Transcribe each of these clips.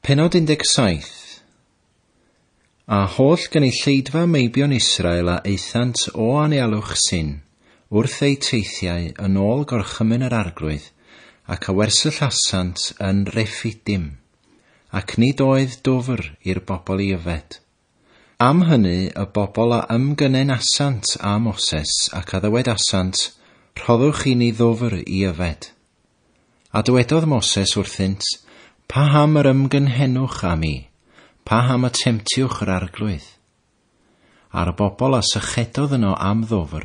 Pennod 17 A holl gynulleidfa meibion Israel a aethant o anialwch Sin wrth eu teithiau yn ôl gorchymyn yr Arglwydd, ac a wersyllasant yn Refidim, ac nid oedd dwfr i'r bobl i yfed. Am hynny y bobl a ymgynenasant â Moses, ac a ddywedasant, Rhoddwch i ni ddwfr i yfed. A dywedodd Moses wrthynt, Paham yr ymgynhenwch â mi? Paham y temtiwch yr Arglwydd? A'r y bobl a sychedodd yno am ddwfr,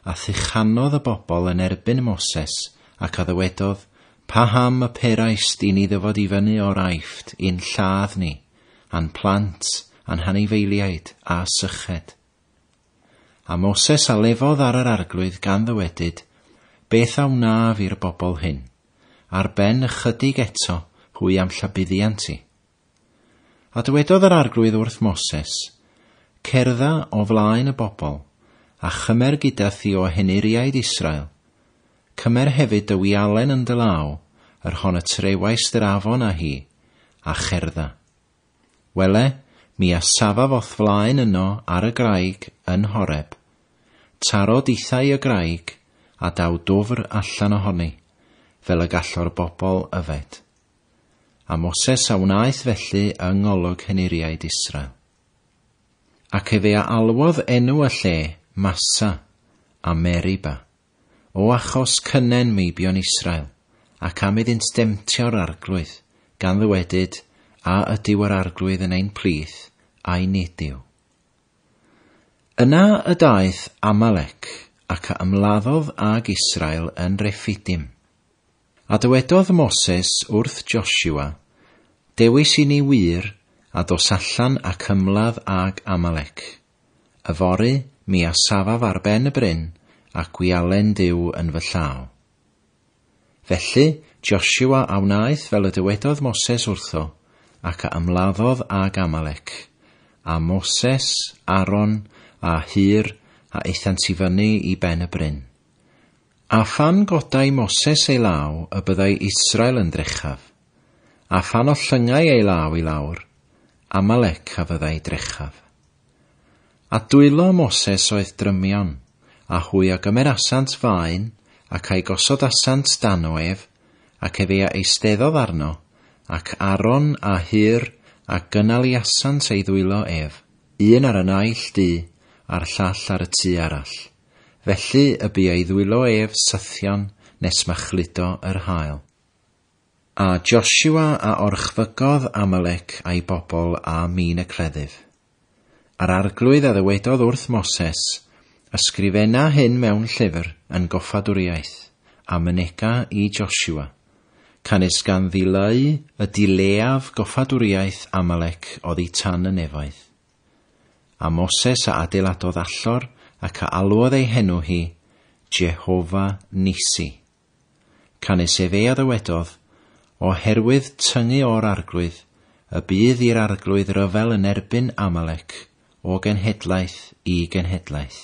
a thuchanodd y bobl yn erbyn Moses, ac a ddywedodd, Paham y peraist i ni ddyfod i fyny o'r Aifft i'n lladd ni? a'n plant a'n hanifeiliaid a syched. A Moses a lefodd ar yr arglwydd gan ddywedyd, Beth a wnaf i'r bobl hyn? Ar ben ychydig eto hwy am llabuddiant i. A dywedodd yr arglwydd wrth Moses, Cerdda o flaen y bobl, a chymer gyda thi o henuriaid Israel, Cymer hefyd dy wialen yn dy law, yr hon y trewaist yr afon â hi, a cherdda. Wele, mi a safaf o'th flaen yno ar y graig yn Horeb. Taro dithau y graig, a daw dwfr allan ohoni, fel y gallor bobl yfed. A Moses a wnaeth felly yng ngolwg henuriaid Israel. Ac efe a alwodd enw y lle, Massa, a Meriba. O achos cynnen meibion Israel, ac am iddynt demtio'r Arglwydd, gan ddywedyd, A ydyw yr Arglwydd yn ein plith, ai nid yw? Yna y daeth Amalec, ac a ymladdodd ag Israel yn Refidim. A dywedodd Moses wrth Joshua, Dewis i ni wir, a dos allan ac ymladd ag Amalec. Yfory mi a safaf ar ben y bryn, a gwialen Duw yn fy llaw. Felly, Josiwa a wnaeth fel y dywedodd Moses wrtho, ac a ymladdodd ag Amalec. A Moses, Aron, a Hur, a aethant i fyny i ben y bryn. A phan godai Moses ei law y byddai Israel yn drechaf. A phan o llyngau ei law i lawr, Amalec a fyddai drechaf. A dwylo Moses oedd drymion, a hwy a gymerasant faen, ac a'i gosodasant dan o ef, ac efe a eisteddodd arno, ac Aaron a Hur, a gynaliasant ei ddwylo ef, un ar y naill du, a'r llall ar y tu arall. Felly y bu ei ddwylo ef sythion nes ma chludo yr haul. A Josua a orchfygodd Amalec a'i bobl â min y cleddyf. A'r arglwydd a ddywedodd wrth Moses, Ysgrifena hyn mewn llyfr yn goffadwriaeth, a mynega i Josua. Canys gan ddileu y du leiaf goffadwriaeth Amalec oddi tan y nefoedd. A Moses a adeiladodd allor ac a alwodd ei henw hi, Jehofa Nissi. Canys efe a ddywedodd, Oherwydd tyngu o'r Arglwydd y bydd i'r Arglwydd ryfel yn erbyn Amalec o genhedlaeth i genhedlaeth.